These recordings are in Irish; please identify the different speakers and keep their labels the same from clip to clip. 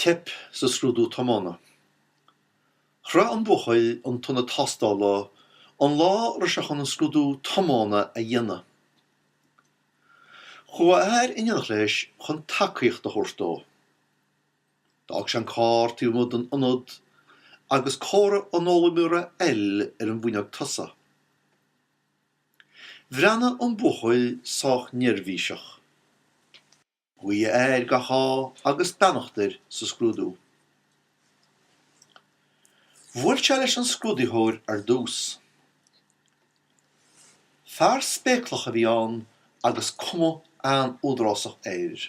Speaker 1: Teip sa scrúdú tiomána. Shroich an buachaill an t-ionad tástála an lá a raibh sé chun an scrúdú tiomána a dhéanamh. Chuaigh a athair in éineacht leis chun tacaíocht a thabhairt dó. D'fhág sé an carr taobh amuigh den ionad agus comhartha an fhoghlaimeora L ar an bhfuinneog tosaigh. Bhreathnaigh an buachaill sách neirbhíseach. Ghuigh a athair gach ádh agus beannacht air sa scrúdú. Bhuail sé leis an scrúdaitheoir ar dtús. Fear spéaclach a bhí ann agus cuma an-údarásach air.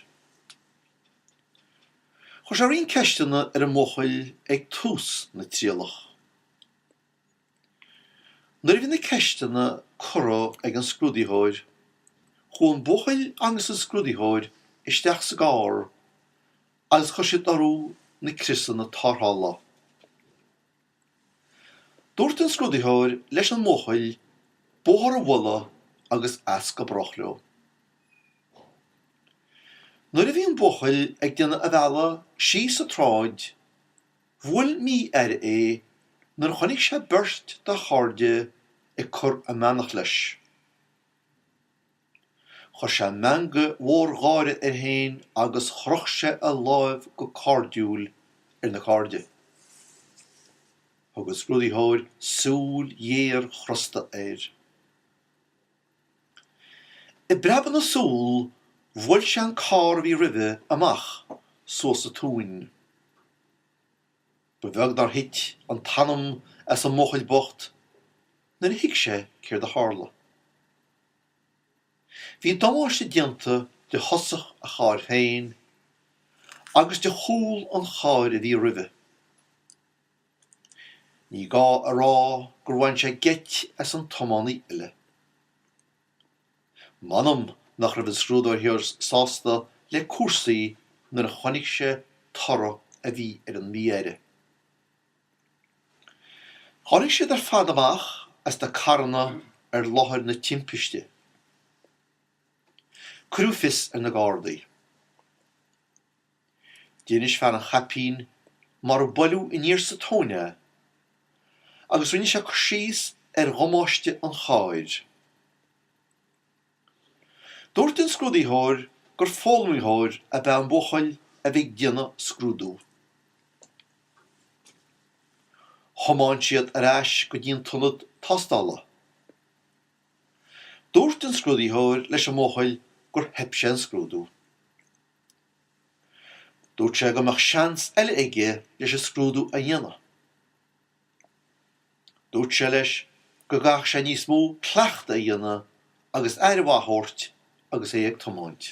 Speaker 1: Chuir sé roinnt ceisteanna ar an mbuachaill ag tús na trialach. Nuair a bhí na ceisteanna curtha ag an scrúdaitheoir, chuaigh an buachaill agus an scrúdaitheoir isteach sa gcarr agus chuir siad orthu na criosanna tárrthála. Dúirt an scrúdaitheoir leis an mbuachaill bóthar a bhualadh agus as go brách leo. Nuair a bhí an buachaill ag déanamh a bhealaigh síos an tsráid, Bhuail mí-aire é nuair a chonaic sé beirt dá chairde ag cur a mbeannacht leis. Chuir sé meangadh mór gáire air féin agus chroch sé a lámh go cairdiúil ar na cairde. Thug an scrúdaitheoir súil ghéar chrosta air. I bpreabadh na súl, bhuail sé an carr a bhí roimhe amach suas sa tóin. Ba bheag nár thit an t-anam as an mbuachaill bocht nuair a thuig sé céard a tharla. Bhí damáiste déanta de thosach a chairr féin agus de chúl an chairr a bhí roimhe. Ní gá a rá gur bhain sé geit as an tiománaí eile. M'anam nach raibh an scrúdaitheoir sásta le cúrsaí nuair a chonaic sé toradh a bhí ar an mí-aire. Tháinig siad ar fad amach as na carranna ar láthair na timpiste. Cuireadh fios ar na Gardaí. D'inis fear an chaipín mar a buaileadh aniar sa tóin é agus rinne sé cur síos ar dhamáiste an chairr. Dúirt an scrúdaitheoir gur foghlaimeoir ab ea an buachaill a bhí ag déanamh scrúdú. Thiomáin siad ar ais go dtí an t-ionad tástála. Dúirt an scrúdaitheoir leis an mbuachaill gur theip sé an scrúdú. Dúirt sé go mbeadh seans eile aige leis an scrúdú a dhéanamh. Dúirt sé leis go gcaithfeadh sé níos mó cleachtaidh a dhéanamh agus aire mhaith a thabhairt agus é ag tiomáint.